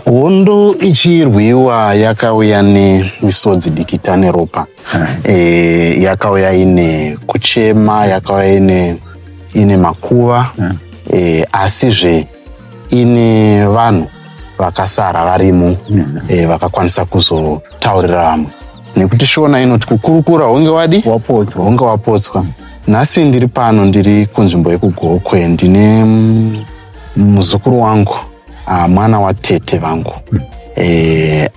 hondo ichirwiwa yakauya nemisodzi dikita neropa e, yakauya ine kuchema yakauya ine, ine makuva e, asizve ine vanhu vakasara varimo e, vakakwanisa kuzotaurira vamwe nekuti shona inoti kukurukura hunge wadi wapotswa hunge wapotswa nhasi ndiri pano ndiri kunzvimbo yekugokwe ndine muzukuru wangu ah, mwana watete vangu eh,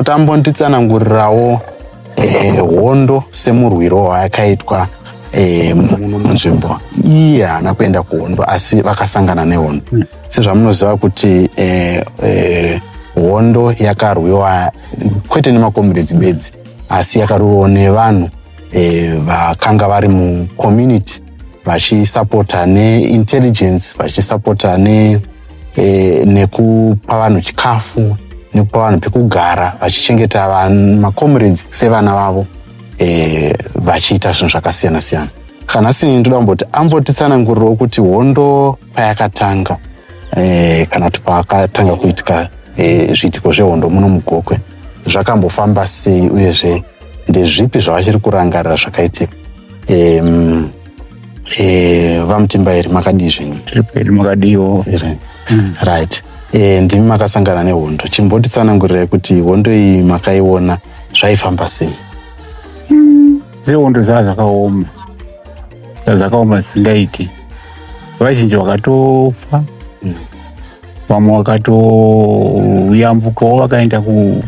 tambonditsanangurirawo eh, hondo semurwiro wayakaitwa eh, muno munzvimbo iye haana kuenda kuhondo asi vakasangana nehondo hmm. sezvamunoziva kuti eh, eh, hondo yakarwiwa kwete nemakomiredzi bedzi asi yakarwiwa nevanhu eh, vakanga vari mucommunity vachisapota neintelligence vachisapota ne, e, nekupa vanhu chikafu nekupa vanhu pekugara vachichengeta macomrades sevana vavo e, vachiita zvinhu zvakasiyana siyana kana sini ndoda kumboti ambotitsanangurirawo kuti hondo payakatanga e, kana kuti pakatanga kuitika e, zviitiko zvehondo muno mugokwe zvakambofamba sei uyezve ndezvipi zvavachiri kurangarira zvakaitika um, e, vamutimba here makadii zvenyu tiripedu makadiiwo here mm. right e, ndimi makasangana nehondo chimbotitsanangurirai kuti hondo iyi makaiona zvaifamba sei mm. zvehondo zvaa zvakaoma zaa zvakaoma zvisingaiti vazhinji vakatofa mm. vamwe vakatoyambukawo vakaenda ku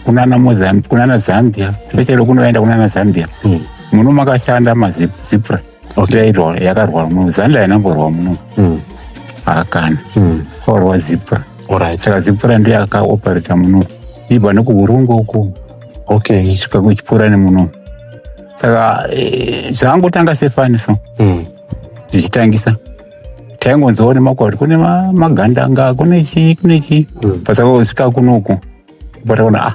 kunana mozambi kunana zambia specially kunoenda kunana zambia hmm. muno makashanda mazipra yairwa yakarwa muno zanda yanamborwa muno hmm. hakana hmm. kwaurwa zipra saka zipra ndiye akaoperata muno ibva nekuurungu uku okay svika kuchipura nemuno saka eh, zvangotanga sefani so zvichitangisa mm. taingonzwa kuti makwati kune magandanga kune chii kune chii mm. pasakasvika kunoku pataona ah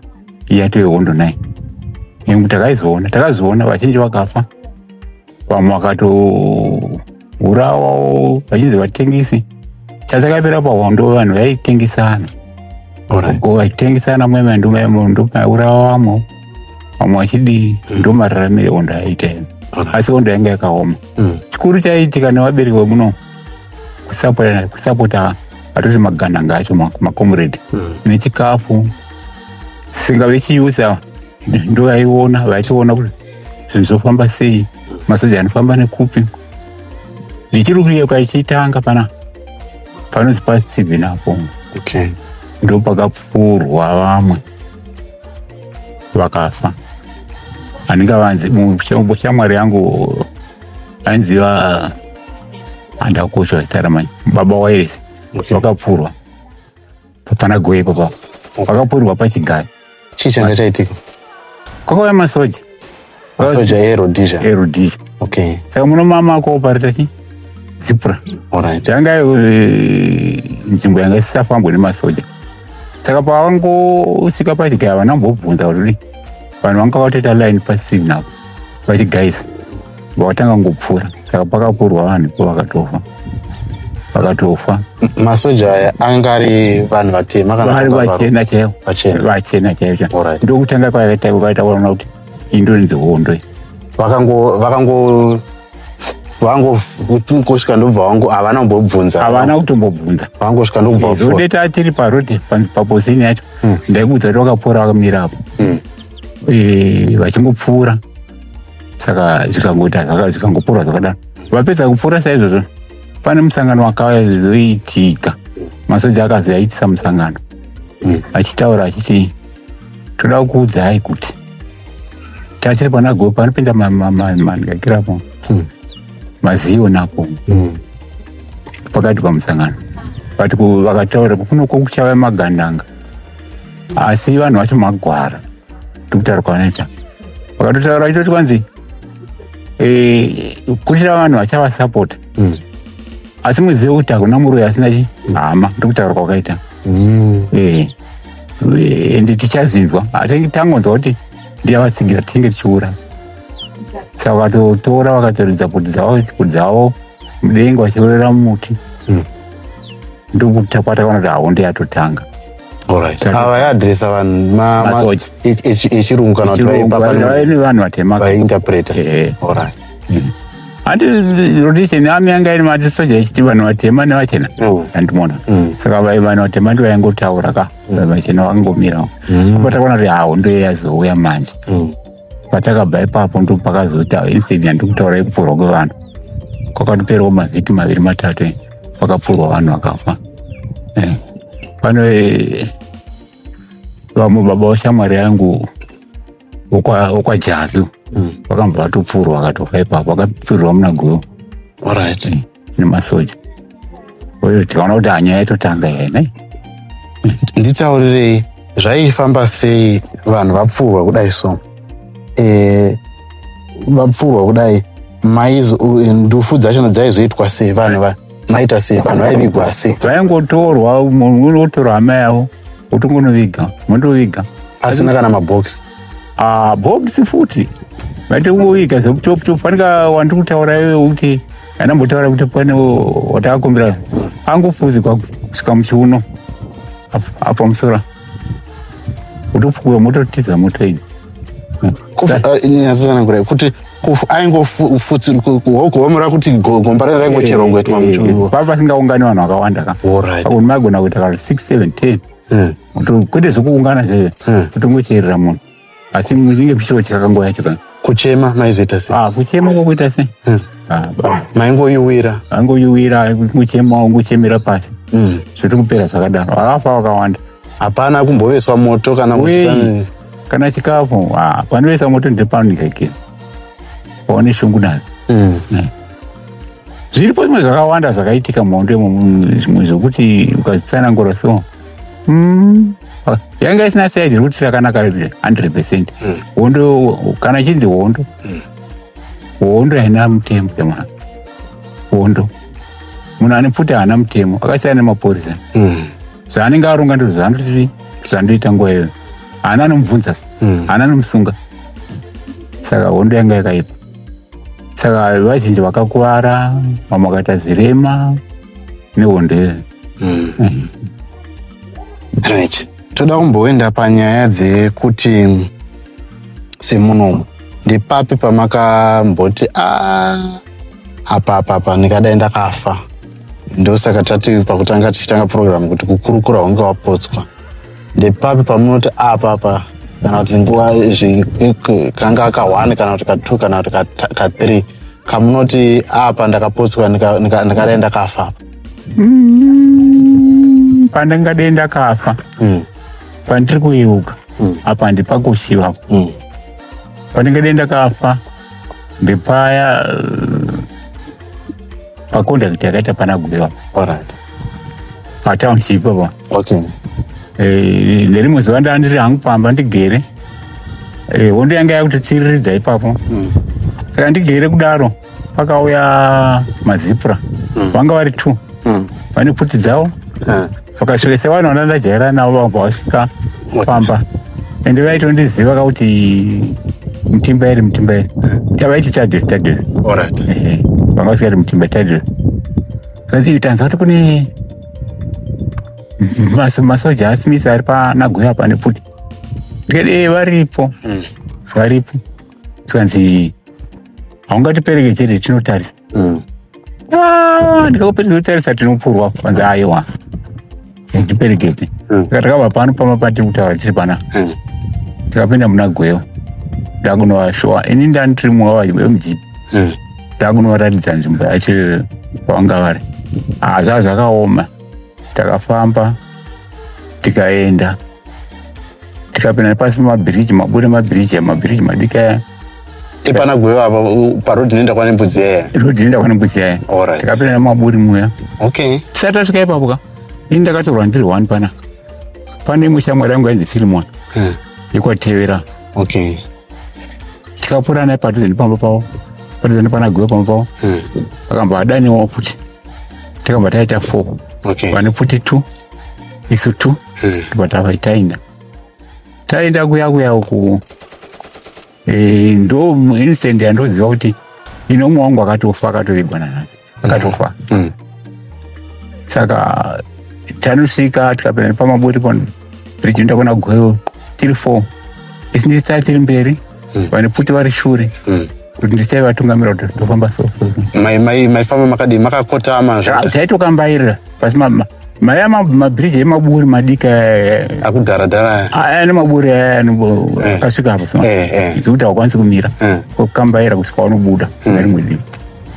yatove hondo nai nekuti takaizoona takazoona vazhinji vakafa vamwe vakatourawawo vachinzi vatengisi chasakapera pahondo vanhu vaitengisana vaitengisana mwema ndomaurawa vamwe vamwe vachidii mm. ndo mararamire ondo aita ene mm. asi ondo yanga yakaoma mm. chikuru chaiitika nevabereki vemuno kusapota kusapota atoti magananga acho makomredi mm. nechikafu singa vechiusa ndo vaiona vachiona kuti zvinhu zvofamba sei masoja anofamba nekupi ndichiri kuyeka ichitanga pana panonzi pasitibvi napo okay. ndopakapfuurwa vamwe vakafa handingavanzi muchombo shamwari yangu ainziva handakutsva zita ramai baba wairesi Okay. vakapfurwa papana goe ipapo vakapfurirwa pachigari chii changa chaitika kwakauya masoja Masoja e Rhodesia. e Rhodesia. Okay. Saka muno mama akoopareta chi zipra Alright. yanga eh, nzvimbo yanga isisafambwe nemasoja saka pavangosvika pachigaya havana kumbobvunza kuti kudii. vanhu vanga vatoita line pasini napo vachigaisa vakatanga kungopfuura saka pakapurwa vanhu ipo vakatofa vakatofa Masoja aya anga ari vanhu vatema kana vari vakavharwa? vachena chaivo Vachena. vachena chaivo Alright. ndokutanga kwakaita kwakaita kuona kuti indorinzi hondo iyi vakango vakango vango kosvika ndobva vangu havana kumbobvunza havana kutombobvunza vangosvika ndobva vafoira. zode ta tiri parodi pa- paposini yacho ndaikuudza kuti vakapfuura vakamira apo Mm. Eh, vachingopfuura saka zvikangoita zvaka- zvikangopfuura zvakadaro vapedza kupfuura saizvozvo pane musangano wakazoitika masoja akazoyaitisa musangano Mm. achitaura achiti toda kukuudzai kuti tachiri pana gogo panopinda manhakirapo hmm. mazivo nako hmm. pakati pamusangano but vakataura kukunoko kuchava magandanga asi vanhu vacho magwara tikutaura kwavanoita vakatotaura itoti kwanzi eh, kutira vanhu vachavasapota hmm. asi muzive kuti hakuna muroyi asina hama ndikutaura kwakaita eh. ende tichazvinzwa hatinge tangonzwa kuti ndiyavatsigira tinenge tichiura saka vakatotora vakatoridza kuti dzavo kuti dzavo mudenga vachiurira mumuti hmm. ndokuti takwatakaona kuti haunde yatotanga ava yaadresa vanhu masoja echirungu kana kuti vaipa vanhu vatema vainterpreta handi rotation ami yanga iri matisoja ichiti vanhu vatema nevachena mm. andimona mm. saka vanhu vatema ndi vaingotaura ka mm. vachena vakangomirawo apa takaona kuti hawo ndo yazouya manje patakabva ipapo ndo pakazoita incident yandikutaura yekupfurwa kwevanhu kwakatoperawo mavhiki maviri matatu pakapfurwa vanhu vakafa eh. pano eh, vamwe baba washamwari yangu wokwajabi mm. wakambva vatopfurwa akatofa ipapo akapfirirwa muna gwewo orit mm. nemasoja oyotiona kuti anyaya itotanga hene nditaurirei zvaifamba sei vanhu vapfurwa kudai so e, vapfurwa kudai maizo ndufu dzachona dzaizoitwa sei vanhu vanhu maita sei vanhu vaivigwa sei vaingotorwa munhu otorwa hama yavo otongonoviga mondoviga asina kana mabhokisi ah, bhokisi futi vaite kungoviga zekuchopchop fanika wandi kutaura iwe uti anambotaura kuti pane watakakumbira angofuzikwa kusvika muchiuno apa musora utofukuwa mototiza motoini eh, eh, kuti aingofutsirkuhomora kuti gomba ranga raingocherongoitwa muchiwiwo pava pasingaungani vanhu vakawanda ka pakuti maigona kuita ka 6 7 10 Hmm. kwete zvekuungana zvee hmm. kutongocherera munhu asi inge muchitotya kanguva yacho ka kuchema maizoita se ah, kuchema kokuita se hmm. ah, maingoyuwira aingoyuwira kuchema ungochemera pasi zvotokupera zvakadaro akafa wakawanda hapana kumboveswa moto kana kana chikafu ah, panoisa moto ndepanileke paone shungu nayo mm. eh. zviripo zvimwe zvakawanda zvakaitika muhondo imwe zvekuti ukazvitsanangura so mm. yanga isina saizi rekuti rakanaka 100 percent mm. hondo kana chinzi hondo mm. hondo haina mutemo yamwana hondo munhu ane pfuti haana mutemo akasiyana nemapurisa mm. zvaanenge aronga ndizvo zvaanoti zvandoita nguva iyoyo haana anomubvunza hmm. haana anomusunga saka hondo yanga yakaipa saka vazhinji vakakuvara vamwe vakaita zvirema nehondo iyoyo hmm. right toda kumboenda panyaya dzekuti semunomu ndepapi pamakamboti a ah, apapapa ndikadai ndakafa ndosaka tati pakutanga tichitanga program kuti kukurukura hunge wapotswa ndepapi pamunoti apa apa kana kuti nguva kanga aka one kana kuti ka two kana kuti ka three kamunoti apa ndakapotswa ndakadai ndakafa mm, pandingadei ndakafa mm. pandiri kuyeuka mm. apa handipakushiva pandingadei ndakafa ndepaya uh, pacontact yakaita pana gwewa orati patownship apa okay eh, nerimwe zuva ndaa ndiri hangu pamba ndigere eh, hondo yanga yakutotsiriridza ipapo mm. saka ndigere kudaro pakauya mazipura mm. vanga vari two mm. vane pfuti dzavo vakasvika sevanhu vana ndajaira navo vabva vasvika pamba ende vaitondiziva ka kuti mutimba iri mutimba iri tavaiti tadres tadres vanga vasikati mutimba tadres zvanzi tanzwa kuti kune masoja asimisi ari panaguya pane pfuti ndikati ee varipo hmm. varipo zvikanzi haungatiperekedzere tinotarisa mm. ah, ndikakuperedza kutarisa tinopurwa kwanzi aiwa ndiperekedze mm. saka takabva pano pama patiri kutaura tiri pana mm. tikapinda muna gweyo ndakunovashowa ini ndani tiri mumwe wavayo wemudzipi ndakunovaratidza nzvimbo yacho kwavanga vari hazva ah, zvakaoma takafamba tikaenda tikapinda nepasi pemabhiriji mabuda mabhiriji aya mabhiriji madiki aya ipana gwewa apa parodi inoenda kwane mbudzi yaya rodi inoenda kwane mbudzi yaya Alright. tikapinda nemaburi muya okay tisati tasvika ipapo ka ini ndakatorwa ndiri one pana pane imwe shamwari yangu yainzi filimon Hmm. yekwatevera okay tikapfuura naye padhuze nepamba pavo padhuze nepana gwewa pamba pavo Hmm. akamba adaniwa futi takamba taita four okay pane futi two isu tu eh. ndibva tava taenda taenda kuya kuya uku eh, ndo instant yandoziva kuti ino umwe wangu akatofa akatovigwa nanani akatofa mm. mm. saka tanosvika tikapinda nepamaboti pano tichienda kuna gwevo tiri four isu ndisitari tiri mberi mm. vane pfuti vari shure kuti ndichai vatungamira kuti tofamba so so so. Mai mai maifamba makadii makakotama Ah, zvekuti taitokambairira pasi ma- ma- maya ma- mabhiriji emaburi madiki aya, akudhara dhara aya. aya, aya nemaburi aya anombo- Eh. akasvika apo so Eh eh. zvekuti haukwanisi kumira Eh. kokambaira kusvika wanobuda kune rimwe divi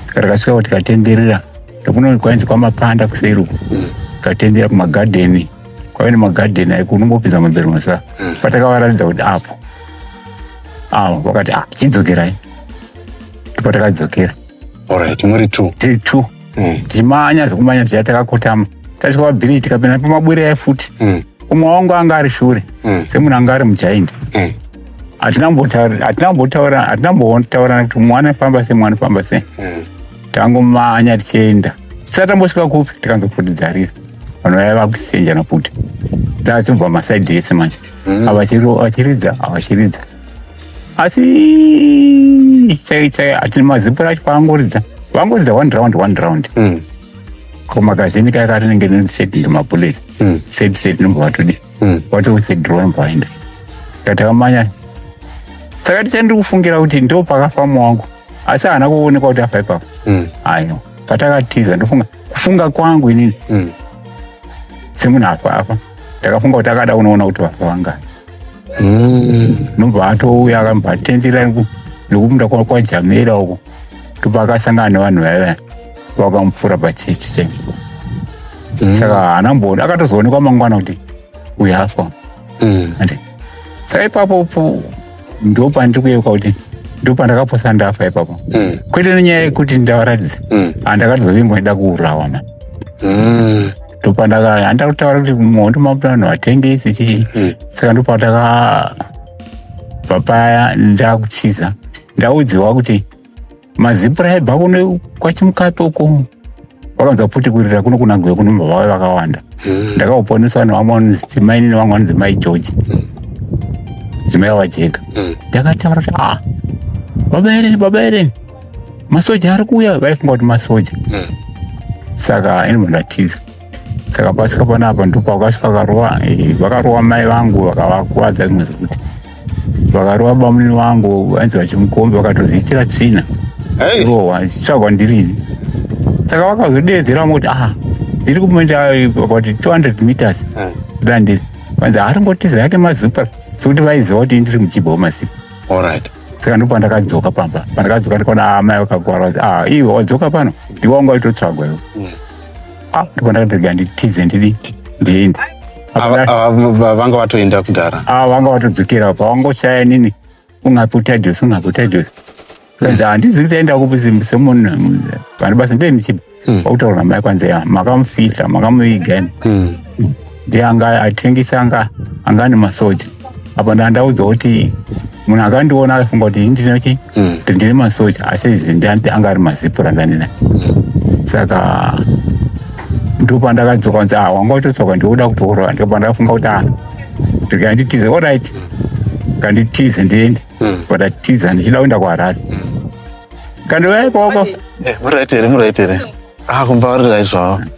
saka takasvika kuti tikatenderera nekuno kwainzi kwamapanda kuseri uko tikatenderera kumagadheni kwave nemagadheni aiko unombopinza mabhero masaa patakawaratidza kuti apo ah wakati ah chidzokerai ndipo takadzokera alright muri two tiri two Mm. tichimanya zvekumanya zviya takakotama tasvika pabhiriji tikapinda pamabwire aya futi Mm. umwe wangu anga ari shure Mm. semunhu anga ari mujaindi Mm. hatina kumbotaura- hatina kumbotaura- hatina kumbotaurana kuti mwana famba sei mwana famba sei Mm. tangomanya tichienda tisati tambosvika kupi tikange futi dzarira vanhu vaya vakusenjana futi dzazibva masaidi ese manje mm. avachiridza avachiridza asi chai chai ati mazipo racho paangoridza vangoridza one round one round mm. ko magazini kaya karinenge neset ndemabullet mm. set set nomba vatodi mm. watoset draw nomba vaenda katakambanya saka tichandiri kufungira kuti ndo pakafamu wangu asi haana kuonekwa kuti afa ipapo mm. ayo patakatiza ndofunga kufunga kwangu inini mm. semunhu afa afa ndakafunga kuti akada unoona kuti vafa vangani mm. nobva atouya akabva atendera nekupinda kwajamera uko tobva akasangana nevanhu vaiva vakamupfuura pachechi chai mm. saka haana mboni akatozoonekwa mangwana kuti uyafa mm. saka ipapo ndopandiri kuyeuka kuti ndopandakaposa ndafa ipapo mm. kwete nenyaya yekuti ndavaratidza mm. andakatidza vimbo ida kuurawa ma mm. ndopandaka handa kutaura kuti muhondo mapurano hatengesi chii mm. saka ndopataka papaya ndakutiza ndaudziwa kuti mazipura aibva kuno kwachimukato uko vakanza futi kurira kuno kunagwe kuno mbava vave vakawanda hmm. ndakauponeswa nevamwe vanonzi timaini nevamwe vanonzi mai george hmm. dzimai vavajeka hmm. ndakataura kuti a ah, baba ere baba ere masoja ari kuuya vaifunga kuti masoja saka ini munhu atiza saka pasvika panapa ndopakasvika vakarowa eh, vakarowa mai vangu vakavakuvadza rimwe zvekuti vakarowa bamuni vangu vanzi vachimukombi vakatozviitira tsvina rowa zvichitsvagwa ndirini saka vakazodeedzera moti aha ndiri kuenda about 200 meters eh. da ndiri vanzi haringotiza yake mazupa sekuti vaiziva kuti ndiri muchibha wemasiku allright saka ndipo pandakadzoka pamba pandakadzoka ndikaona amai ah, vakagwara kuti ah iwe wadzoka pano ndiwanga waitotsvagwa iwe mm. Ah, ndipo ndakandega nditize ndidi ndiende Ava- ava- va- vanga vatoenda kudhara ava vanga vatodzokera apa vangoshaya nini ungapotadhos ungapotadhos kanzi handizi kuti aenda kupi se- semunhu vane basa ndee ndichiba vakutaura mai kwanzi "Ya, makamufihla makamuviga ini Mm. ndiye anga atengesa anga anga ane masoja apa ndandaudzwa kuti munhu akandiona akafunga kuti ini ndine chi Mm. kuti ndine masoja asi izvi ndandi anga ari mazipura ndanina saka ndopandakadzoka nzi ah wanga utotsoka ndikuda kutourwa ndopandakafunga kuti ah ndikanditize orit kanditize ndiende Mm. pandatiza ndichida kuenda kuharare kandiuya ipaoko Eh, muraiti here muraiti here ah kumbaurira izvavo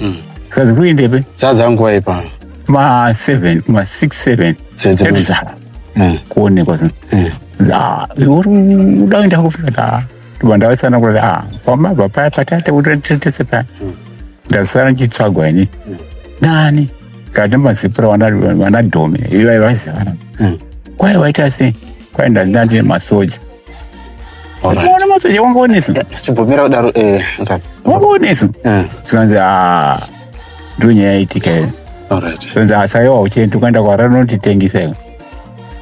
Mm. Kazi kuindepe? Sadza nguva ipa. Ma 7, ma 6 7. Sadza. Ebza. Mm. Kuonekwa zino. Mm. Za, uri udaenda kufika. Tubanda sana kula ah, kwa maba pa patata utetese pa. Mm. Ndasara ndichitsvagwa ini. Mm. Nani? Kana mazipura wana wana dome. Iva iva zivana. Mm. Kwai waita sei? Kwai ndandandine masoja. ukaona masoja wanga unesu chibvumira kudaro eh, wanga unesu eh. zvikanzi ah, ndo nyaya yaitika iyo zvikanzi asayo ah, hauchendi ukaenda kwara rinotitengesa iyo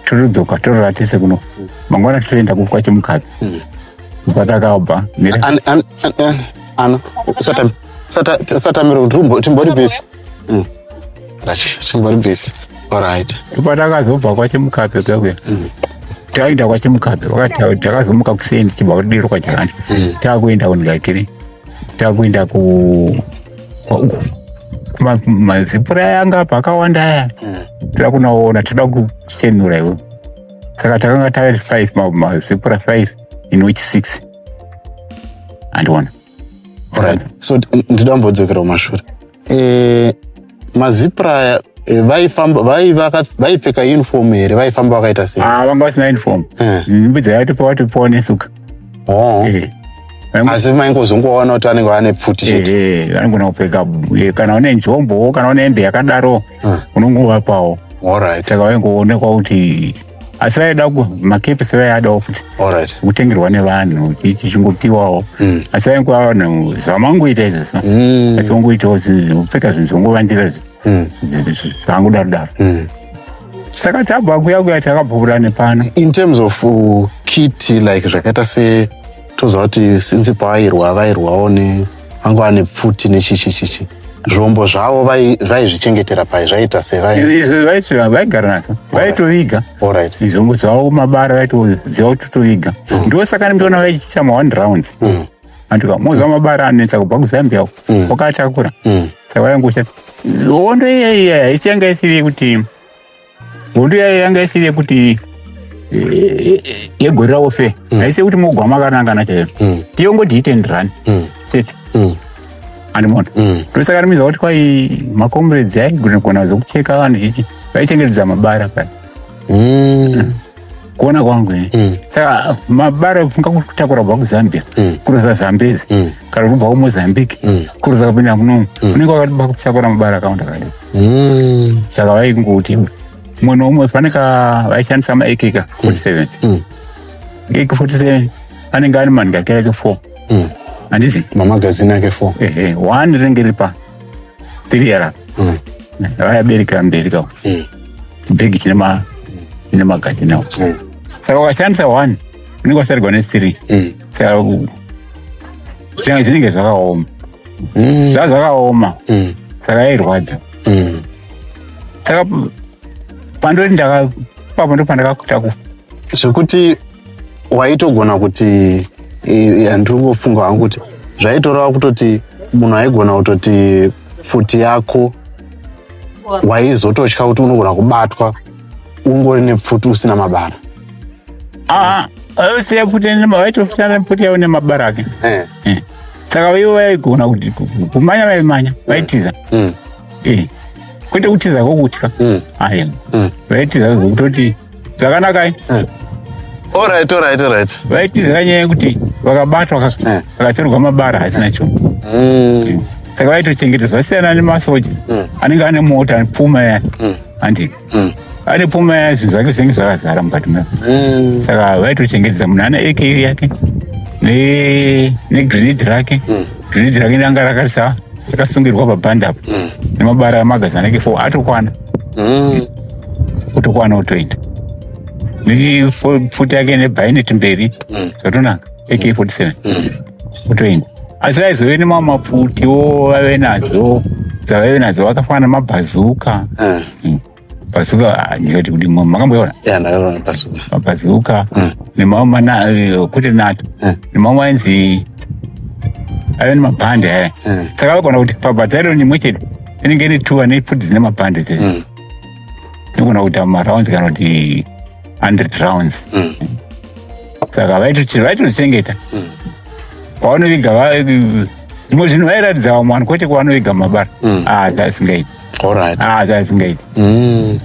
totodzoka torora tese kuno mangwana totoenda kufwa chemukadzi hmm. patakabva eh, satamiro timbori bisi mm. chimbori busy alright patakazobva kwachemukape kekuya mm. taenda kwachemukape wakati takazomuka kuseni chibva kudiro kwachakani mm. takuenda kunigakiri takuenda ku kwauku mazipura yanga pakawanda aya mm. toda kunaona toda kuchenura iwe saka takanga tave five mazipura five in which six andiona Alright. So ndida kumbodzokera kumashure. Eh mazipra eh, vaifamba vaipfeka uniform here vaifamba vakaita sei? Ah vanga vasina uniform. Eh. Mm, Mbidza yatopa watopa nesuka. Oh. Eh. asi maingozongoona kuti anenge ane pfuti chete anogona kupfeka kana une njombowo kana une hembe yakadaro unongovapawo saka vaingoonekwa kuti asi vaida ku makepisi vayadawo futi alright kutengerwa nevanhu chi- chichingopiwawo Mm. asi vainguva vanhu zvamangoita izvi so Mm. asi vangoitawo zvinhu zvekupfeka zvinhu zvongovandira zvi- Mm. zvi- zvi- zvangudaro daro Mm. saka tabva kuya kuya takabvura nepano in terms of uh, kiti like zvakaita se toziva kuti since paairwa vairwawo ne vanga vane pfuti nechichichichi zvombo zvavo vaizvichengetera pai zvaiita sevaigara nazvo vaitoviga zvombo zvavo mabara vaitoziva kuti toviga mm. ndo saka ndoona vaichiita ma one round mm. andika moziva mabara anetsa kubva kuzambia mm. wakatakura saka vaingosha hondo iya iya haisi yanga isiri yekuti hondo yayo yanga isiri yekuti yegore ravo fe mm. aise kuti mogwama akanangana chaiyo mm. tiyongoti hit and run mm. set andimona ndosaka rimiza kuti kwai macomrades aigona gona zokucheka vanhu chichi vaichengetedza mabara kani kuona kwangu ini Mm. saka mabara funga kutakura kubva kuzambia Mm. kuroza zambezi Mm. kana kubva kumozambique Mm. kuroza kupinda kunomu unenge wakatiba kutakura mabara akawanda kadi Mm. saka vaingoti umwe noumwe faneka vaishandisa maekeka 47 Mm. eke 47 anenge ari manhika kereke 4 Mm. handizvi Mamagazini ake four. ehe one rinenge riri pa tiriyara mm. vayabereka mberi ka mm. chibhegi chine ma chine magati nawo mm. saka ukashandisa one unenge wasarigwa nesiri mm. saka zvinenge zvinenge zvakaoma mm. zva zvakaoma mm. saka yairwadza mm. saka pandori ndaka papo ndopandakakuta kufa zvekuti waitogona kuti eh, eh, ndiri kungofunga hangu kuti zvaitoreva kutoti munhu aigona kutoti pfuti yako waizototya kuti unogona kubatwa ungori nepfuti usina mabara ah, aisiya pfuti waitofuta nepfuti yavo nemabara ake eh. eh. saka ivo vaigona kuti kumanya vaimanya mm. vaitiza mm. kwete kutiza kokutya mm. vaitiza kutoti Zvakanaka eh? eh. All right, all right, all right. Vaitiza nyaya yekuti vakabatwa eh. vakatorwa mabara hatina cho. Mm. Saka vaitochengeta zvasiyana nemasoja mm. anenge ane mota ane pfuma ya. Mm. Andi. Mm. Ane pfuma ya zvinhu zvake zvinenge zvakazara mukati mwe. Mm. Saka vaitochengetedza munhu ane AK yake ne ne grenade rake. Mm. Grenade rake ranga rakasa rakasungirwa pabanda apo. Mm. Nemabara magazana ke 4 atokwana. mm. kutokwana utoenda mifuti yake nebhaineti mberi mm. zvatonaka ak47 mm. utoenda asi vaizove nemamwe mapfutiwo vave nadzo dzavaive nadzo vakafanana mabhazuka mm. mm. bhazuka ah, ndikati kuti makamboiona mabhazuka mm. nemamwe eh, kwete nato mm. nemamwe ainzi ave nemabhande aya saka vakona kuti pabhadhariro nimwe chete inenge ine two ane futi dzine mapande chete mm. tinogona kuita marounds kana kuti hundred rounds mm. saka vaitochengeta mm. kwavanoviga zvimwe zvinhu vairatidza vamwe vanhu kwete kwavanoviga mabara mm. ah, zvasingaiti ah, zvasingaiti mm.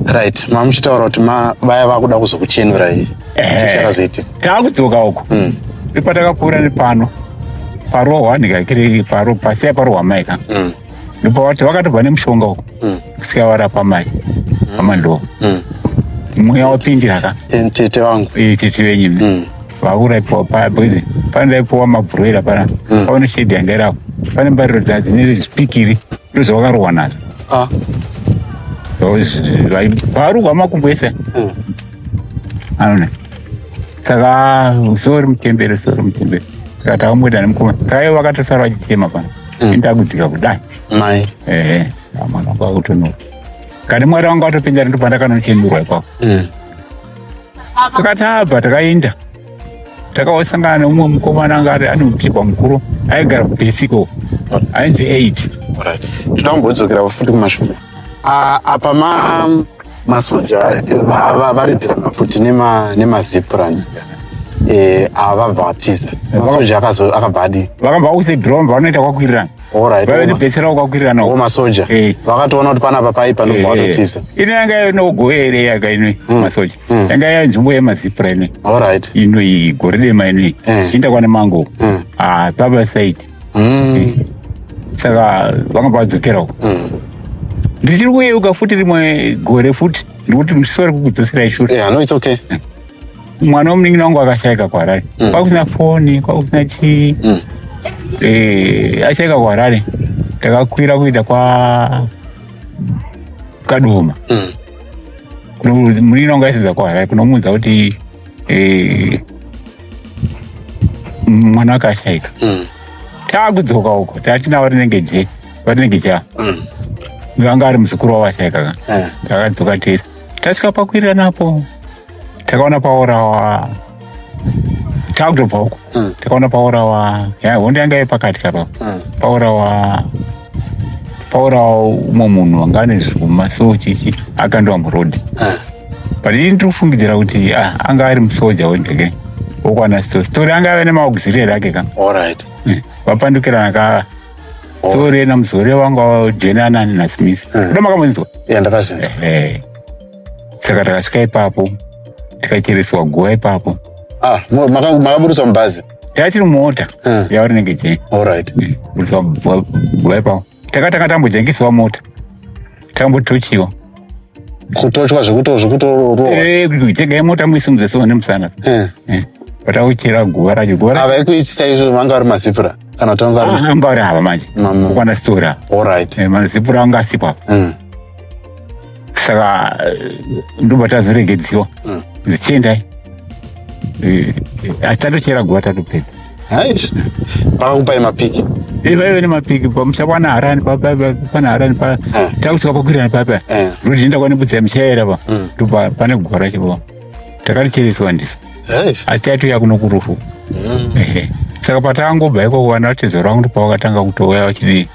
right mamuchitaura kuti vaya vakuda kuzokuchenurai chakazoitika taakudzoka uko mm. ipatakapfuura nepano parohwa ndikakiriri paro pasiya parohwa mai ka mm. ndopavati vakatobva nemushonga uko mm. kusika varapa mai pamandoa mweya wapindira ka tete vangu eh, tete venyu vauraipiwa paya because pane ndaipiwa mabhuroira pana paone shedi yanga irapo pane mbariro dzadzine zvipikiri ndozvavakarohwa nadzo ah. varuhwa makumbo ese Aona. Saka sorry mutembere sorry mutembere. Saka takamboita nemukoma. Saka ivo vakatosara vachichema pano. Mm. Enda kudzika kudai. Mai. Eh. Amana kwa kutono. Kani mwari wangu atopinda ndo pandakanochemurwa ipapo. Mm. Saka tabva takaenda. Takawasangana neumwe mukomana anga ari ane mutipa mukuru aigara kupisiko. Ainzi 8. Alright. Tinombozokera futi kumashure. Ah, apa ma masoja avaridzira mafuti nemazipurani eh, avabva vatiza masoja akabva adi vakabva with drone vanoita kwakwirirana vavenibetsera kwakwirirana o masoja eh. vakatoona kuti panapa pai panobva eh, vatotiza ino yanga yave nogoe ere yaka ino hmm. masoja hmm. yanga yave nzvimbo yemazipura ino ino iyi gore dema ino iyi zviinda kwane mango hmm. ah, pabasaidi mm. saka vanga vadzokera uko mm. ndichiri kuyeuka futi rimwe gore futi ndikuti ndisore kukudzoserai shure yeah, no, it's okay. Mm. mwana womunin'ina wangu akashaika kuharare mm. kwakusina foni kwakusina chii mm. eh, ashaika kuharare takakwira kuita kwa kadoma mm. kuno munin'ina wangu aisidza kuharare kunomuudza kuti eh, mwana akashaika mm. taakudzoka uko tatinavo rinenge je varinenge ja mm. vanga ari muzukuru wavo ashaika ka eh. takadzoka tese tasvika pakwirira napo takaona paorawa takutobva uko mm. takaona paorawa ya hondo yanga yepakati kapa mm. paorawa paorawa umwe munhu anga ane zvuma so chichi akandiwa murodi mm. but ini ndiri kufungidzira kuti ah, anga ari musoja wende ke wokwana story story anga ave nemaauxiliary ake ka Alright. Eh, vapandukirana ka story yena muzore wangu wajenana nasmith Mm. kuda makamunzwa Yeah, ndakazinzwa. Eh, saka takasvika ipapo tikachereswa guva ipapo Ah, mu- maka- makaburitswa mubhazi. tachiri mumota Mm. yauri nenge jeni Alright. buritswa guva ipapo takatanga tambojengesewa mota tambotochiwa kutochwa zvekutozvekutorowaitengai eh, mota muisimudze so nemusana eh. eh, patauchera guva racho guva avaikuitisa izvo vanga vari mazipura kana kuti vanga ah, vari hava manje kwana stora mazipura anga asipo apa saka eh, ndobva tazoregedziwa Mm. dzichiendai Eh, eh, asi tatochera guva tatopedza right pakakupai mapiki Eh, vaive nemapiki pamusha kwana harani pa- pa- pa- pana harani pa Eh. takusvika pakwirana papa Eh. ndotienda kwane budzi yamuchaera pa Mm. ndopa pane guva racho pa takarichereswa ndiso right asi taitouya kuno kurufu Mm. Ehe. saka patangobva ikoko vana vatezo rangu ndopavakatanga kutouya vachidii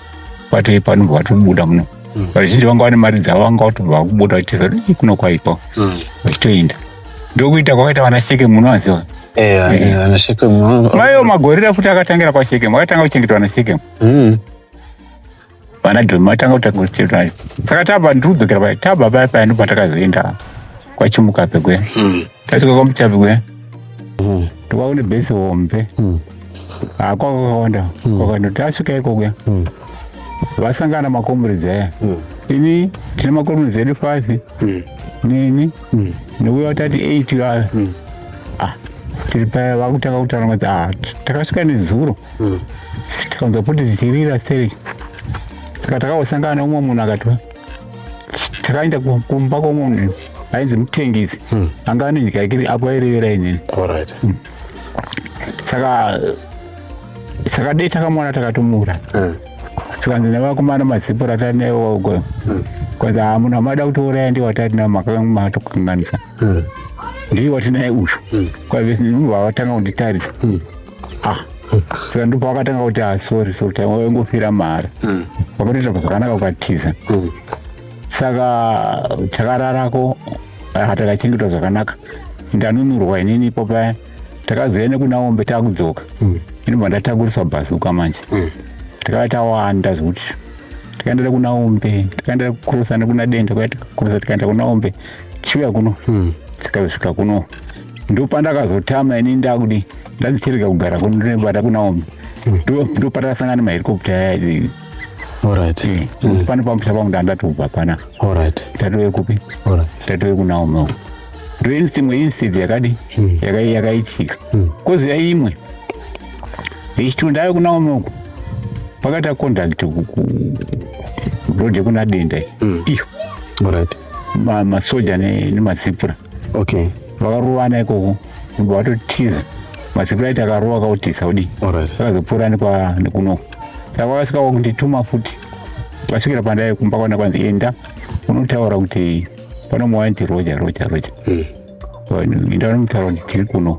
vatoipa vanobva vatobuda muno mm. vazhinji vanga vane mari dzavo vanga vatobva vakubuda vachitiza kuti kuno kwaitwa mm. vachitoenda ndokuita kwakaita vana sheke muno aziva eh, eh. maiwo magorira futi akatangira kwashekemu akatanga kuchengetwa na shekemu mm. vana dhomi vatanga kutanga kuchengetwa saka taba ndiri kudzokera paya taba paya paya ndipo patakazoenda kwachimukape kwe Tatika kwa mchavi we. Mhm. Tuwaone base hombe. Mhm. Ah, kwa honda. Mhm. Kwa ndo tasvika iko kuya. Mhm. Vasangana makomrades aya. Mhm. Ini tine makomrades edu 5. Mhm. Nini? Mhm. Ndikuya tati 8 ya. Mhm. Ah. Tiri paya vakutanga kutaura kuti ah takasvika nezuro. Mhm. Tikanzwa kuti dzichirira seri. Saka takawasangana umwe munhu akatwa. takaenda kumba kwomunhu ainzi mutengisi hmm. anga ane nyika yake apo airevera inini hmm. saka saka dei takamwana takatomura hmm. tikanzi nevakomana mazipo ratari naiwogo kwanzi hamuna mada kutouraya ndiwatari nao makamatokanganyisa mm. ndiye watinaye uyu mm. kwave vavatanga kunditarisa mm. ah saka ndipo vakatanga kuti ah, sorry sorry time waingofira mari hmm. vakatoita zvakanaka ukatiza hmm. saka takararako ah, takachengetwa zvakanaka ndanunurwa inini ipo paya takazouya nekunaombe takudzoka hmm. inobva ndatakuriswa bhazuka manje takava tawanda zvekuti tikaendera kunaombe tikaendera kukurosa nekuna denda kwaya tikakurosa tikaenda kunaombe mm. chiuya kuno hmm. chikazosvika kuno ndopandakazotama ini ndakudi ndadzicherega kugara kuno ndinobata kunaomi hmm. ndopatakasangana maherikopta aya Alright. Eh, hmm. Pano pamusha pangu ndatobva pana. Alright. Tatove kupi? Alright. Tatove kunaomi. Ndo instinct instinct yakadi yakaitika. Kozi yaimwe. Ichitundayo kunaomi uko. Pakata contact ku road yekuna denda iyo. Alright. masoja nemazipura okay vakarovana ikoko kubva vatotiza mazipura aiti akarova kautisa kudii akazopfuura nekunoko saka vakasvika vakundituma futi vasvikira pandai kumba kwana kwanzi enda unotaura kuti pano mwawanzi roja roja roja hmm. enda unomutaura kuti tiri kuno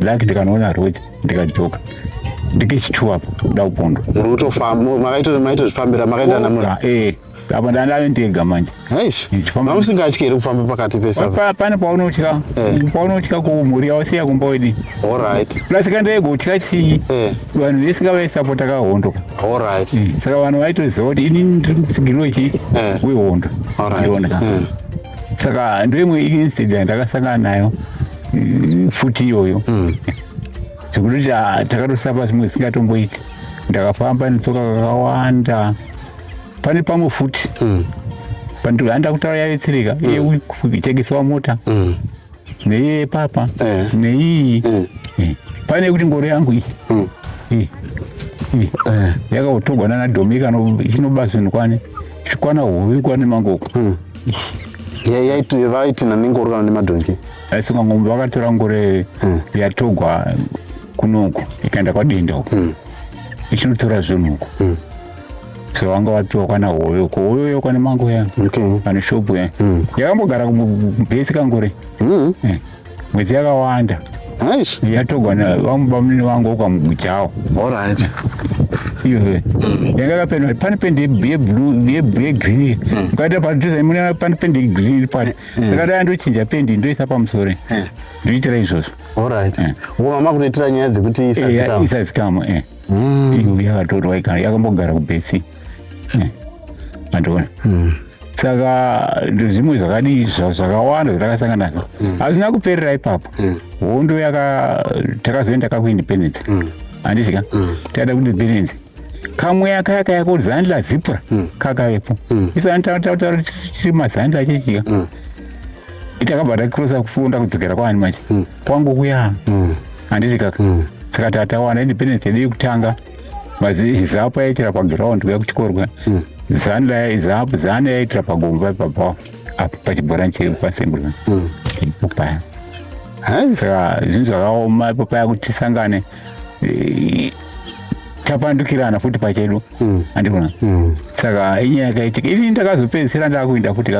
laki ndikanoona roja ndikadzoka ndikechituwa apo kuda kupondwa makaitozvifambira makaenda namura eh, apa ndandave ndega manje mamusingatyi here kufamba pakati pesapane paunotya eh. paunotya kumhuri yawasiya kumba wedi plus kandaigo utya chii eh. vanhu vese kavaisapota kahondo saka vanhu vaitoziva kuti ini ndiri mutsigiri wechi wehondo saka ndoimwe incident akasangana nayo mm, futi iyoyo mm. zvekuti kuti ah, takatosapa zvimwe zvisingatomboiti ndakafamba netsoka kakawanda pane pamwe futi mm. pandihanda kutaura yavetsereka mm. iye kutekesa wamota mm. neiye papa eh. neiyi eh. eh. pane kuti ngoro yangu iyi hmm. eh. eh. yakaotogwa nana domika chinobazini kwani zvikwana hove kwani mangoko hmm. vaitina nengoro kana nemadhongi aisika ngombe vakatora ngore hmm. yatogwa kunoko ikaenda kwadenda uko ichinotora zvinhu uko so vanga vapiwa kwana hove uko hove uyo kwana mangu ya okay. pane shopu ya mm. yakambogara kubhesi kangore mm. eh. mwedzi yakawanda nice. yatogwa vamubamunini vangu ukamugujawo orit iyoe yanga kapendwa pane pendi yegreen ukaita patozaimuna pane pendi yegreen iri pati ndakada yandochinja pendi ndoisa pamusore ndoitira izvozvo orit mama kutoitira nyaya dzekuti isazikama eh, eh, eh. mm. iyo yakatorwa ikana yakambogara kubesi mandiona hmm. mm. saka zvimwe zvakadii zvakawanda zvatakasangana nazvo hmm. hazvina mm. kuperera ipapo hmm. hondo mm. yaka takazoenda kakuindependence handizika mm. mm. taida kuindependence kamwe aka yaka yako zani la zipra mm. kakavepo mm. isu anitautaura tiri mazani lachechiya mm. itakabva takrosa kufunda kudzokera kwaani manje mm. kwangu kuya mm. handiti kaka mm. saka tatawana independence yedu yekutanga mazizapo yaitira paground kuya kuchikorwa mm. zanu laya izapo zanu yaitira pagomba ipapa apo pachibhorani chiri pasembura mm. ipo paya saka zvinhu zvakaoma ipo paya kuti tisangane eh, tapandukirana futi pachedu mm. andikona mm. saka inyaya yakaitika ini ndakazopedzisira ndakuinda futi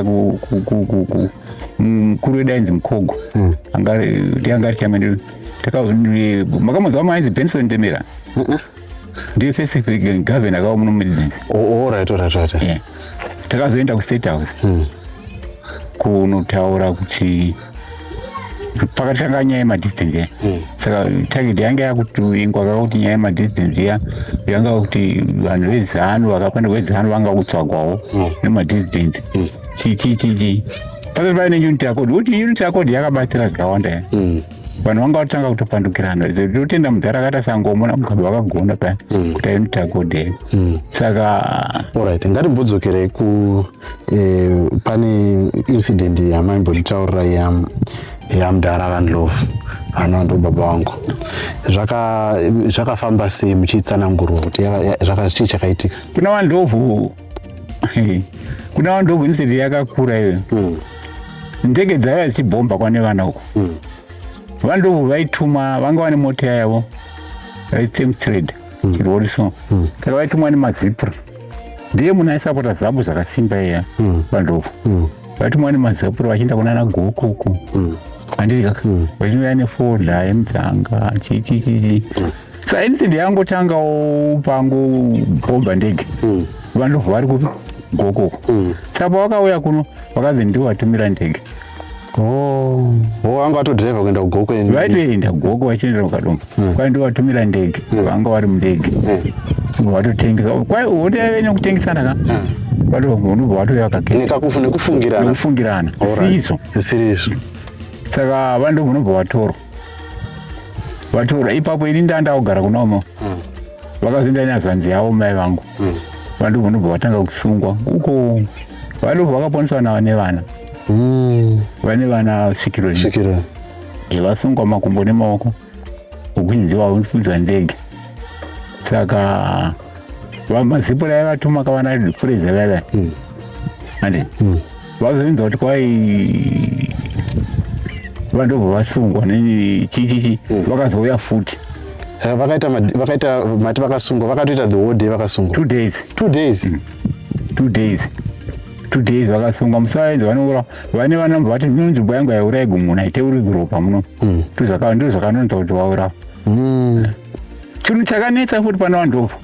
mukuru wedu ainzi mukhogo mm. ndianga ari chamene makamuziva mainzi benson temera ndiye first governor akawa muno midlands orit orit orit takazoenda kustate house mm. kunotaura kuti pakatanga nyaya yemadistance ya hmm. saka target yanga yakutuvingwa kakuti nyaya yemadistance ya yanga kuti vanhu vezanu vakafanirwa vezanu vanga kutsvagwawo hmm. nemadistance hmm. chichichichi pasati pave neunit yacode kuti unit yacode yakabatsira zvakawanda ya mm. vanhu vanga vatanga kutopandukirana totenda mudhara akaita sangomona mugabo vakagona paya mm. kuti unit yacode yeyo mm. saka orit ngatimbodzokerei ku eh, pane incident yamaimbotitaurira yamudhara vandlove anova ndobaba wangu zvakafamba sei muchiitsanangurwa kuti chii chakaitika kuna vandlovu kuna vanhu ndogwiniseti yakakura iyoyo hmm. ndege dzaiva dzichibhomba kwane vana uko hmm. vanhu ndobvu vaituma vanga vane mota yavo vaitsemstrade hmm. chirori so saka vaitumwa nemazipra ndiye munhu aisapota zabu zvakasimba iya vandobvu vaitumwa nemazapura vachienda kunana goko uko andiri kaka vachiuya nefodha yemdzanga chichichichi sa incident yangotangawo pangobhomba ndege mm. vanhu vari kupi gokoko mm. saka pavakauya kuno vakanzi ndiwo vatumira ndege oh. oh, vanga vatodriva kuenda kugoko vaitoenda goko vachiendera kukadomba mm. kwai ndiwo vatumira ndege vanga vari mundege vatotengesa kwai wotave nekutengesana ka vanobva vatouya kakekakufungirana siriso saka vanhu ndovunobva vatorwa vatora ipapo ini ndanda kugara kunomo mm. vakazoenda nazvanzi yavo mai vangu mm. vandobva ndobva vatanga kusungwa uko vadobva vakaponeswa na vane vana mm. vane vana svikiro svikiro vasungwa makumbo nemaoko ukunzi vaunfudza ndege saka vamazipo raivatuma kavana fureza vaiva mm. ande mm. vazoinza kuti kwai vandobva vasungwa nechichichi mm. vakazouya futi eh, vakaita vakaita mati vakasungwa vakatoita the whole day vakasungwa two days two days mm. two days two days vakasungwa musaenzi vanoura vane vanamba vati no nzvimbo yangu yaura igumuna iteuri guropa muno mm. ndozvakanonza kuti vaura mm. chinhu chakanetsa futi pana vandobva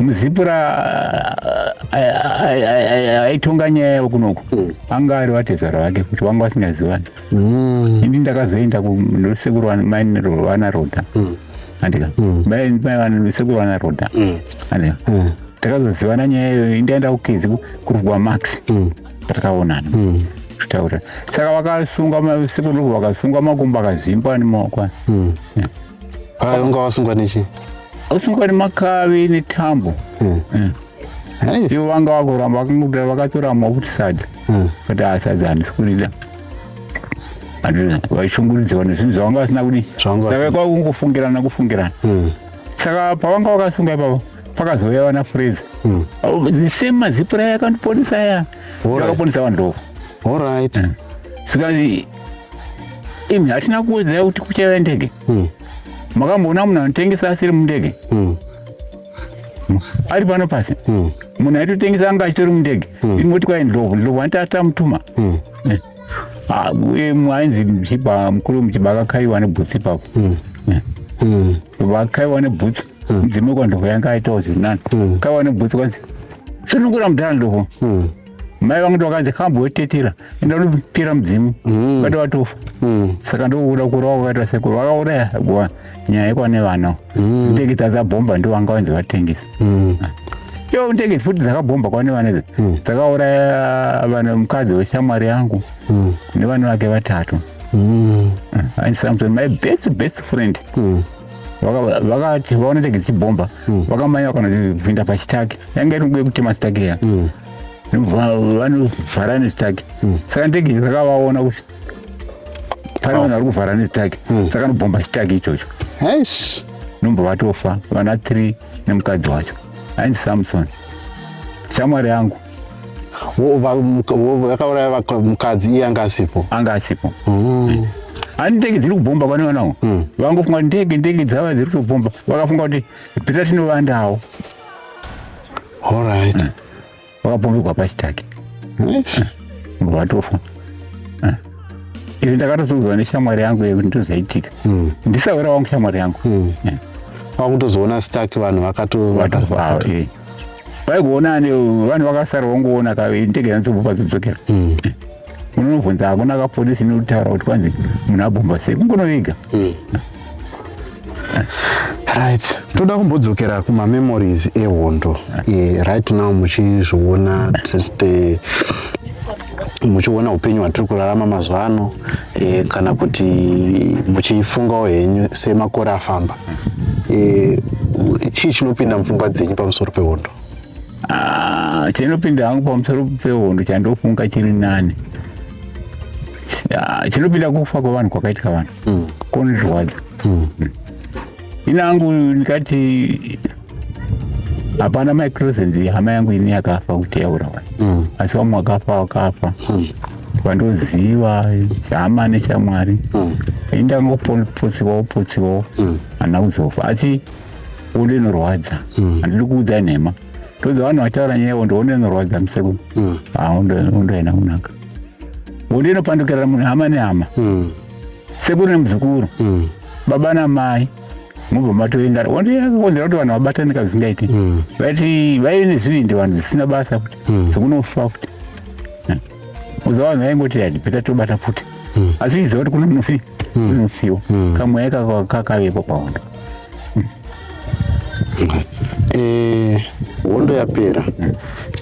muzipura aitonga nyaya yavo kunoku hmm. anga ari vatezvara vake kuti vanga vasingazivani hmm. ini ndakazoenda kusekuru vana roda hmm. andika sekuru vana roda andika takazozivana nyaya iyoyo indaenda kukezi kurugwa max patakaonana kutaura saka vakasungwa sekuru vakasungwa makumbo akazvimbwa nemaoko Haa, unga wasungwa nechi? Wasungwa nemakavi netambo. Hmm. Hmm. Hey. Ivo vanga vakuramba vakangoda vakatora makuti sadza. Hmm. Kuti haa sadza handisi kurida. Vaishungurudziwa nezvinhu zvavanga vasina kudi. Zvavanga vasina. Saka kwakungofungirana kufungirana. Hmm. Saka pavanga vakasunga ipapo pakazouya vana Fraser. Hmm. Oh, the same mazipura yakandiponesa aya. yakaponesa vanhu doko orit mm. saka imi hatina kuwedzera kuti kuchaiva ndege mm. makamboona munhu anotengesa asiri mundege mm. ari pano pasi munhu aitotengesa anga achitori mundege ingoti kwai ndlovu ndlovu anti atamutuma eh. ah, ainzi mchiba mukuru mchiba akakaiwa nebhutsi ipapo eh. vakaiwa nebhutsi mudzimu kwandlovu yanga aitawo zvirinani kaiwa nebhutsi kwanzi sunungura mudhara doko mm. mai vangu ndovakati kambo wetetera enda unopera mudzimu mm. vati watofa mm. saka ndokuda kurova kwakaita sekuru vakauraya gwa nyaya yekwane vana mm. ndekisa adzabhomba ndo vanga vanzi vatengesa mm. Ah yo ndege futi dzakabhomba kwani vana idzi hmm. dzakauraya vana mukadzi weshamwari yangu hmm. nevana vake vatatu hmm. ah, and samson my best best friend vakati vaona tege dzibhomba hmm. vakamanya vakana kupinda pachitaki yanga iri nguva yekutema chitaki iya hmm. vanovhara nechitaki hmm. saka ndege rakavaona kuti pane vanhu vari kuvhara nechitaki saka nobhomba chitaki ichocho nomba vatofa vana three nemukadzi wacho ainzi samson shamwari yangu vakauraya mukadzi iye anga asipo anga asipo mm. ani ndege dziri kubhomba kwani vanawo mm. vangofunga ndege ndege dzava dziri kutobhomba vakafunga kuti pita tinovandawo allright mm. vakabhombekwa pachitake vatofa izvi ndakatozodzwa neshamwari yangu yekuti ndozaitika ndisawira wangu shamwari yangu kwakutozoona stark vanhu vakatovatovaa vaigona ane vanhu vakasara vongoona ka ndege yanzobva pazodzokera mm. unonobvunza hakuna ka polisi inokutaura kuti kwanzi munhu abhomba sei kungonovega mm. right toda kumbodzokera kumamemories ehondo yeah, right now muchizviona muchiona upenyu hwatiri kurarama mazuva ano e, kana kuti muchifungawo henyu semakore afamba e, chii chinopinda mupfungwa dzenyu pamusoro pehondo ah, chinopinda hangu pamusoro pehondo chandofunga chiri nani ah, chinopinda kufa kwevanhu kwakaitika vanhu mm. konizviwadza mm. mm. ini angu ndikati hapana mai cresent hama yangu ini yakafa kuti yaura wani Mm. asi vamwe wakafa wakafa Mm. vandoziva hama neshamwari Mm. indangopotsiwa opotsiwawo Mm. hana kuzofa asi unde inorwadza Mm. handidi kuudza nhema ndodza vanhu vataura nyaya yavo ndoona inorwadza musekuru Mm. undoenda kunaka unde inopandukirana munhu hama nehama Mm. sekuru nemuzukuru Mm. baba namai mobva matoenda wonzera kuti vanhu vabatane kazvingaiti mm. vati vaive nezvivindi vanhu zvisina basa futi mm. sokunofa futi uza vanhu vaingoti hadi peta tobata futi mm. asi iziva kuti kune munofi unofiwa kamweya kakavepo pahondo eh, hondo yapera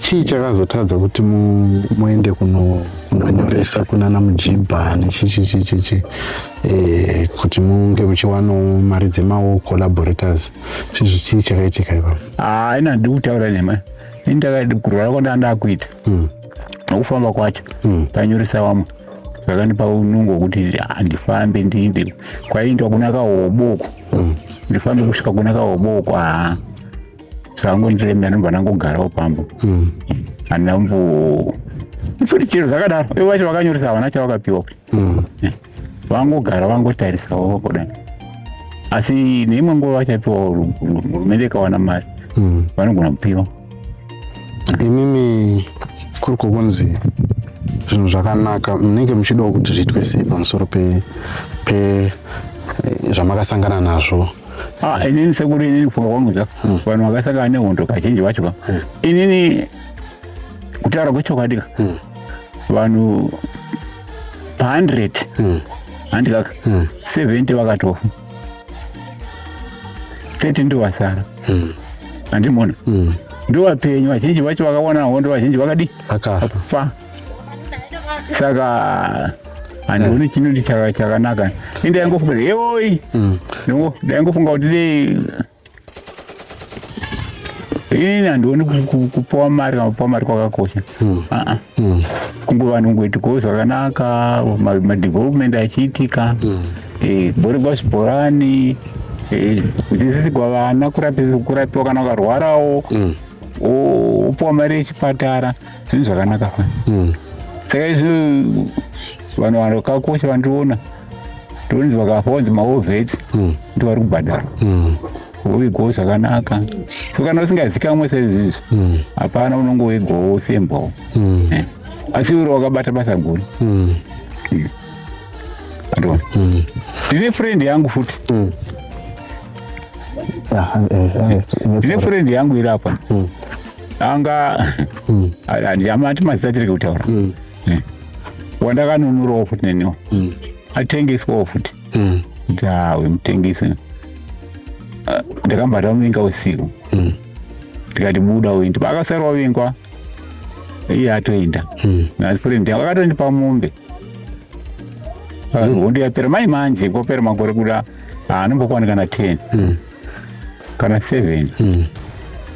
chii chakazotadza kuti muende kunonyoresa kunana mujibha nechichichichichi chi, chi, chi, chi. eh, kuti munge muchiwanawo mari dzemawo collaborators zvezvo chii chakaitika ipa haina ah, handidi kutaura nema kurwara kwandanga ndakuita hmm. nokufamba kwacho hmm. panyoresa vamwe zvakandipa unungo wekuti handifambe ah, ndiinde kwaiindwa kuna kahoboko hmm. ndifambe kusvika kuna kahoboko haa ah. zvakangondiremera ndobva ndangogarawo pambo handina mbo futi chero zvakadaro ivo vacho vakanyoresa havana chavakapiwa kuti mm. Eh, vangogara vangotarisawo kudai asi neimwe nguva vachapiwa hurumende ikawana mari mm. vanogona kupiwa imimi kuri kukunzi zvinhu zvakanaka munenge muchidawo kuti zviitwe sei pamusoro pe, pe eh, zvamakasangana nazvo ah, inini sekuru inini kufunga kwangu zva hmm. vanhu vakasangana nehondo kazhinji vacho ka hmm. inini kutaura kwechokwadi ka hmm. vanhu pa 100 mm. handi kaka mm. 70 vakatofa 30 ndo vasara mm. andimona mm. ndo vapenyu vazhinji vacho vakawana hondo vazhinji vakadi akafa saka handioni eh. chinoti chakanaka ende daingofunga kuti yewoi mm. daingofunga kuti dei ini handioni kupiwa mari kana kupiwa mari kwakakosha hmm. aa hmm. kunge vanhu kungoitikoo zvakanaka madevelopment achiitika hmm. eh, bhori kwazvibhorani eh, kudzidzisigwa vana kurapiwa kana ukarwarawo wopiwa mari yechipatara zvinhu zvakanaka fani saka izvi vanhu vanhu vakakosha vandiona ndonzwa kafa onzi maovheti hmm. ndiwari kubhadhara hmm. wovigawo zvakanaka so kana usingazikamwe saizvizvi hmm. hapana unonge woigawo wofembwawo eh. asi uri wakabata basa guru andona ndine friend yangu futi ah, eh, eh, ndine friend yangu iri apa anga handiamati mazita tireke kutaura mm. wandakanunurawo futi neniwo mm. atengeswawo futi mm. dzawe mutengesi ah, ndakambata muvinga usiku mm. ndikati buda uende paakasarwa vingwa iye atoenda hmm. nafrendi yangu akatondipa mombe hondo yapera mai manje kopera makore kuda haanombokwanikana ten hmm. kana seven mm.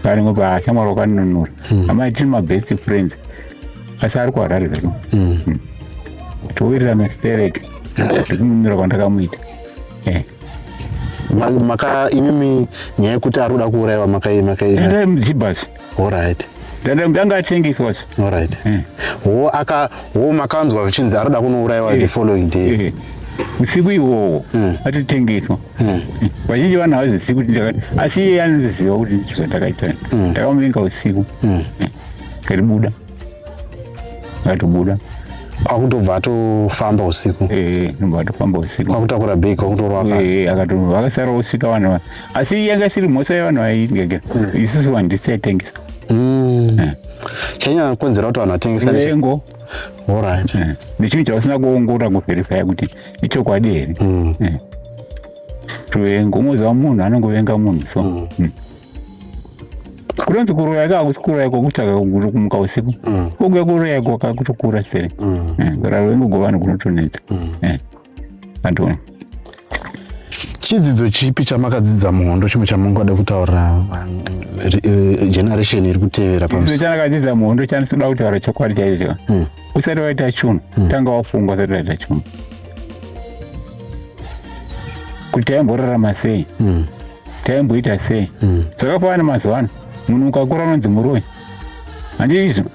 paringo paashamwari wakanunura mm. amai tiri mabest friends asi ari kuharare zvedu mm. mm. towirirana stereti zvekununura kwandakamuita eh. maka imimi nyaya yekuti ari kuda kuurayiwa makaimakaiamuchibhasi Alright. Ndanga atengeswa zve. Alright. Eh. Wo aka wo makanzwa vichinzi aroda kunouraiwa eh. the following day. Eh. Usiku iwowo hmm. atitengeswa. Hmm. Vazhinji vana vazivi kuti ndakati asi iye anoziva kuti ndicho ndakaita. Hmm. Ndakamuvinga usiku. Karibuda. Katobuda. kwakutobva atofamba usiku eh, eh, eh, akutobva atofamba usiku kwakutakura bhegi kwakutorwa akasara osvika vanhu asi yanga isiri mhosva yevanhu vaitengesa hmm. isisi vanhu ndisi taitengesa hmm. eh. chanyanya kukonzera kuti vanhu vatengesa vengo orit eh. nechinhu chavasina kuongorora kuverifya kuti ichokwadi here hmm. eh. ruvengo umoziva munhu anongovenga munhu so kunonzi kuroya ka hakusi kuroya kwakutsvaka kumuka usiku kunge kuroya kwakakutokura sere kurarwengo govanhu kunotonetsa chidzidzo chipi chamakadzidza muhondo chimwe chamungada kutaura eh, generation iri kutevera chidzidzo chandakadzidza muhondo chandisada kutaura chokwadi chaicho hmm. usati waita chunhu hmm. tanga wafungwa usati waita chunhu kuti taimborarama sei hmm. taimboita sei zvakafanana mazuva ano munhu ukakura unonzi muroyi handizvo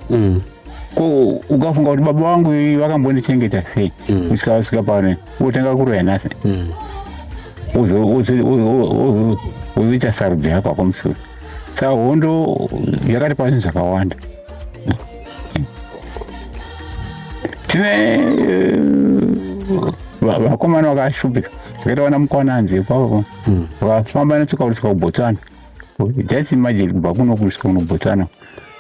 ko ukafunga kuti baba vangu vakambondichengeta sei mm. kusvika vasvika pano wotanga kuroya nhasi mm. wozoita sarudzo yako ako musoro saka hondo yakati pazvinhu zvakawanda tine eh, vakomana vakashupika zvakaita vana mukwananzi ipapo mm. vakafamba netsoka kusvika kubotswana just imagine kubva kuno kusvika kunobotswana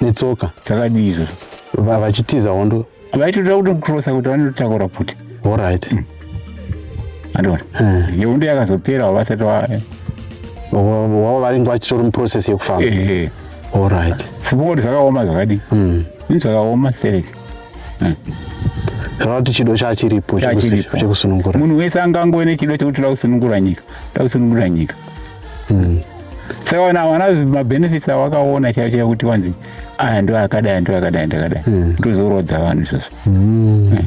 netsoka dzakadii izvozvo Va- vachitiza hondo vaitoda kutokrosa kuti vanotakura kuti orit andiona Eh. yehondo yakazopera vasati wa wavo varinge vachitori muprocess yekufamba ehe orit sipoko kuti zvakaoma zvakadii Mm. ini zvakaoma sereti zvakuti chido chachiripo chekusu- chekusunungura munhu wese angangove nechido chekuti toda kusunungura nyika toda kusunungura nyika mm. saka wana wana mabenefits awakaona chaivo chaivo kuti wanzi aya ndo akadai ndo akadai ndakadai mm. ndozorodza vanhu izvozvo mm. mm.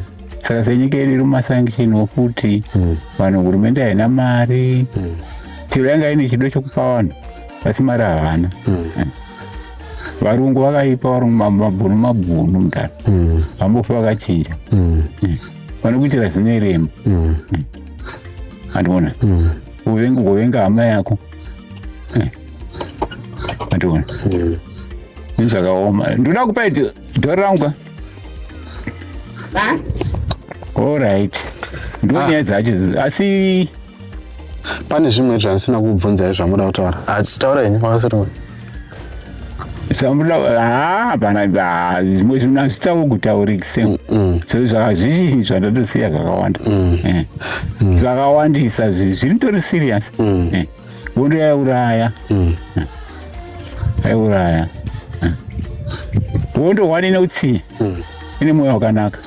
saka senyika yedu iri mumasanction okuti mm. vanhu hurumende haina mari mm. chero yanga ine chido chokupa vanhu asi mari havana mm. mm varungu vakaipa varungu mabhunu mabhunu mudhara mm. vambofa vakachinja mm. mm. vanokuitira zvinerema andiona mm. Uvenga uvenga hama yako. Eh. Mationa. Mm. Nizvakaoma. Ndoda kupa ito. Dora rangu ka. Ba. All right. Ndoni ah. yadzi hachi. Asi. Pane zvimwe zvandisina kubvunza izvamuda kutaura. Taura ini kwakasiri. zvimwe zvinhu hazvitawo kutaurikise so zvakazvizhinji zvandatosiya zvakawanda mm. eh. mm. zvakawandisa zviritori serious mm. eh. vondo yaiuraya eh. yaiuraya hondo hwani ine utsinye ine mwoyo wakanaka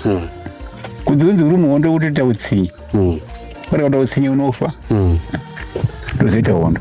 kunzi kunzi uri muhondo kutoita utsinye uri kuita utsinye unofa ndozoita hondo